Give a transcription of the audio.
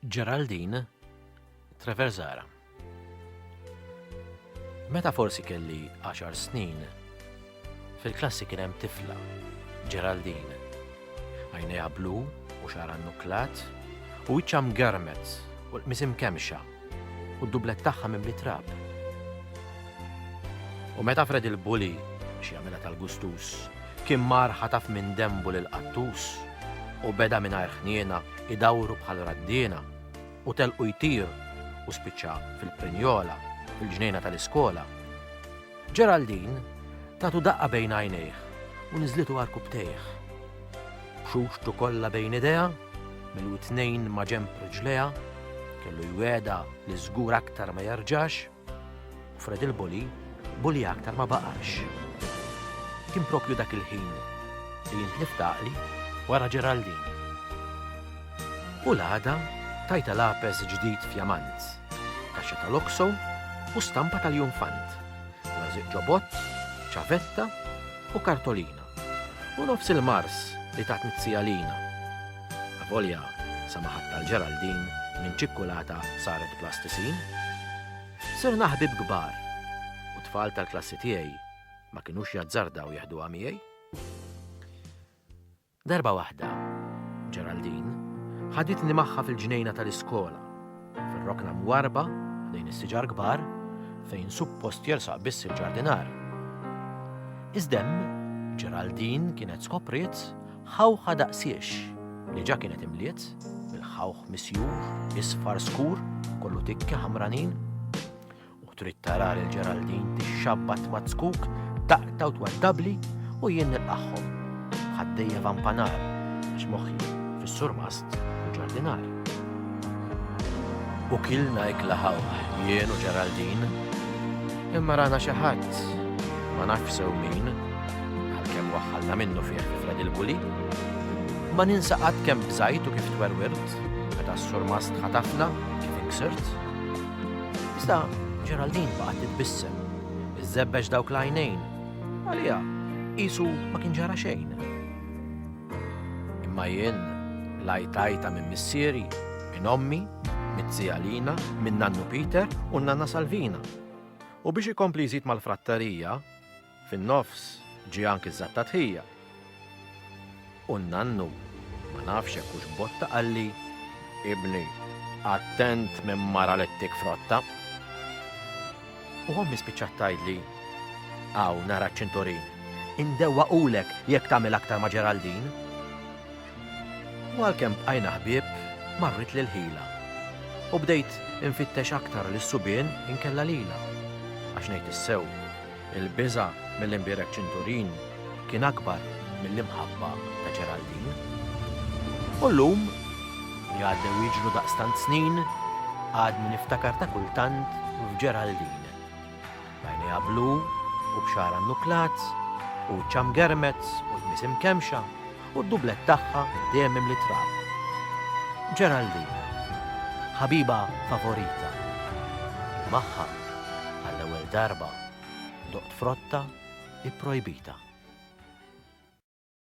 Geraldine Treverzara. Meta forsi kelli 10 snin, fil-klassi kien hemm tifla, Geraldine. Għajnejha blu u xara nuklat u wiċċa mgarmet u l-qmisim kemxa u d-dublett tagħha mimli trab. U meta fred il-bully biex jagħmilha tal-gustus, kien mar ħataf minn denbu lil qattus u beda mingħajr ħniena idawru bħal raddiena u telqu jtir u spiċċa fil-prinjola fil-ġnejna tal-iskola. Geraldine tatu daqqa bejn għajnejh u niżlitu għarkupptejh. B'xuxtu kollha bejn idejha, mill-widnejn ma' ġenb riġlejha, kellu jwiegħdha li żgur aktar ma jerġax, u Fred il-bully bully aktar ma baqax. Kien proprju dak il-ħin li jien tlift għaqli wara Geraldine. U l-għada tajtha lapes ġdid f'jamant, kaxxa tal-okso u stampa tal-junfant, rażiq ġobott, ċavetta u kartolina, u nofs il-mars li tatni t-sija Lina. Avolja samaħat tal-Ġeraldin minn ċikkulata saret plastisin. Sirna ħbieb kbar u t-tfal tal-klassi tiegħi ma kinux jazzardaw jeħduha miegħi. Darba waħda, Geraldine ħaditni magħha fil-ġnejna tal-iskola, fir-rokna mwarrba ħdejn is-siġar kbar fejn suppost jersaq biss il-ġardinar. Iżda hemm, Geraldine kienet skopriet ħawħa daqsiex li ġa kienet imliet bil-ħawħ misjur, isfar skur, kollu tikki ħamranin. U trid tara lil Geraldine tixxabbat ma' tzkuk, taqta' u twaddabli u jien nilqagħhom. Ħaddejja vampanar, għax moħħi fis-surmast u ġardinar. U kilna ikla ħaw, jien u Geraldine, imma rana xi ħadd ma nafx sew min, għalkemm waħħalna minnu fih fred il-buli. Ma ninsa qatt kemm bżajt u kif twerwirt, meta s-surmast ħatafna kif inksirt. Iżda Geraldine baqgħet titbissem. Iżżebbeġ dawk l-għajnejn. Għalija, qisu ma kien ġara xejn. Imma jien lajtajta minn missieri, minn ommi, mit-tija Lina, minn nannu Peter u nanna Salvina. U biex ikompli jżid mal-frattarija, Fin-nofs ġie anki ż-żattatħija. U n-nannu, ma nafx jekk hux botta qalli, Ibni, attent minn mara li ttik frotta. U ommi spiċċat tgħidli, Hawn nara ċ-ċinturin, indewwaqulek jekk tagħmel aktar ma' Ġeraldin. U għalkemm bqajna ħbieb, marritli l-ħila. U bdejt infittex aktar lis-subien inkella lilha. Għax ngħid is-sew, Il-biża' mill-imbierek ċinturin kien akbar mill-imħabba ta' Geraldine. U llum, li għaddew jiġru daqstant snin, għadni niftakar ta' kultant f'Geraldine. B'għajnejha blu u b'xagħarha nnuklat u wiċċha mgermez u tmiss imkemmxa, u d-dublett tagħha dehemem li trab. Geraldine, ħabiba favorita. Magħha, għall-ewwel darba, doqt frotta ipprojbita.